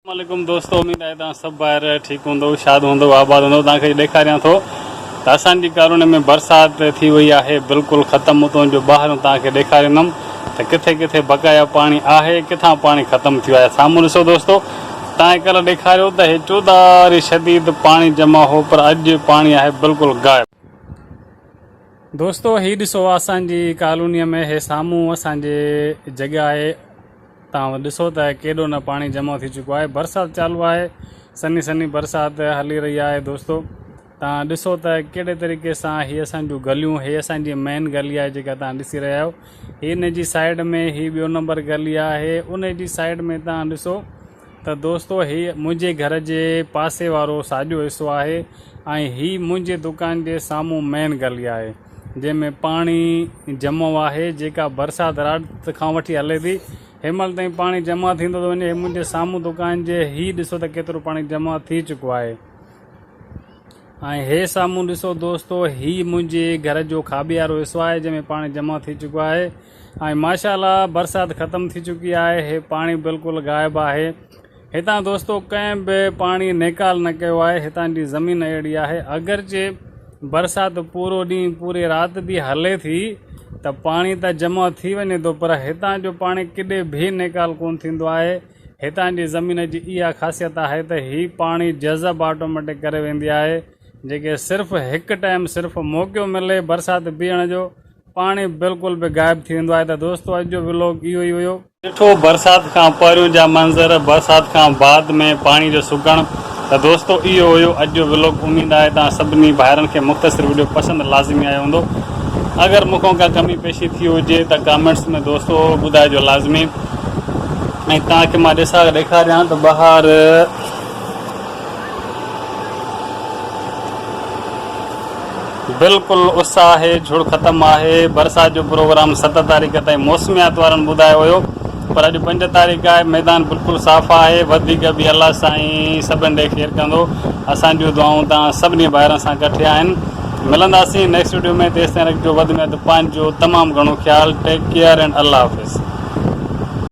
السلام عليڪم دوستو اميد آهي توهان سڀ ڀائر ٺيڪ هوندؤ شاد هوندؤ آباد هوندؤ توهان کي ڏيکاريان ٿو ته اسان جي ڪالوني ۾ برسات ٿي وئي آهي بلڪل ختم اتون جو ٻاهريون توهان کي ڏيکاريندم ته ڪٿي ڪٿي بقايا پاڻي آهي ڪٿان پاڻي ختم ٿيو آهي سامهون ڏسو دوستو تائين ڪلهه ڏيکاريو ته هي چوڌاري شديد پاڻي جمع هو پر اڄ پاڻي آهي بلڪل غائب دوستو هي ڏسو اسان جي ڪالوني ۾ هي سامهون اسان جي جڳهه آهي توهان ڏسو ته ڪيڏو نه پاڻي جمع ٿي چڪو آهي برسات چالو آهي سنهي سنهي برسات هلي رهي آهي دوستو توهان ڏسو ته ڪهڙي طريقي سان هي اسان جون گليون هي اسان جي مين گلي آهي جيڪا توهان ڏسي رهيا آهيو هي ان جي سائيڊ ۾ هي ٻيو نمبر گلي آهي ان جي سائيڊ ۾ توهان ڏسو ته دوستو هي منهنجي گهر جي پاسي وارو ساڄو حصو آهي ۽ هي منهنجي دڪان جي سامهون مين گلي آهي جنهن ۾ پاڻي جمع آهي جيڪا برسات رات کان وٺي هلي ٿي هيمهل تائين پاڻي جمع ٿيندو ٿو وڃي هي منهنجي سامهون دڪان جي هي ڏسو ته ڪيترو پاڻي جمع ٿي چڪو آهي ۽ هي سامهون ڏسو دوستو هي منهنجي گهر جو کاٻي وارو حصو آهي جنهن ۾ پاڻي جمع ٿي چڪو آهي ۽ ماشاء الله برسات ختم ٿي چڪي آهي هي پاڻي بلڪل غائب آهي هتان دوستو ڪنهن به پاڻي نيڪال نه ڪيو آهي هتان جي زمين اهڙي آهي اگرچه برسات پورو ڏينهن پوري رات به هلي ٿي ته پاڻي ته جمع ٿي وڃي ٿو پر هتان جو پاڻي ڪڏي به نيڪال ڪون ٿيندو آهي هتان جي زمين جي اها خاصيت آهي ته هي پاڻي جذب آٽوميٽڪ ڪري ويندي آهي جيڪي صرف هڪ ٽائم صرف موقعو ملي برسات بيهڻ جو پاڻي بلڪل به غائب ٿي ويندو آهي ته دوستو اڄ جو ولوگ اهو ئي هيو. ڏٺو برسات کان پهريون جا منظر برسات کان بعد ۾ پاڻي جو سگهڻ ته دوستو اهو هيو اڄ جو ولوگ اميد آهي توهان سڀني ڀائرن کي مختصر وڊيو پسند لازمي آيو هوندو اگر مون کان ڪا ڪمي پيشي ٿي هجي ته ڪامينٽس ۾ دوستو ٻڌائجو لازمي ۽ توهان کي مان ڏسا ڏيکاريان ته ٻاهر بلڪل اس آهي جھڙ ختم آهي برسات جو پروگرام ست تاريخ تائين موسميات وارن ٻڌايو هيو پر اڄ پنج تاريخ آهي ميدان بلڪل صاف آهي وڌيڪ به الله سائين سڀن ڏي خير ڪندو اسان جون دعائون توهان سڀني ڀائرن سان ڪٺي آهن ملنداسين نيڪسٽ وڊيو ۾ تيستائين رکجو وڌ ۾ وڌ پنهنجو تمام گھڻو خيال ٽيڪ ڪيئر اينڊ الله حافظ.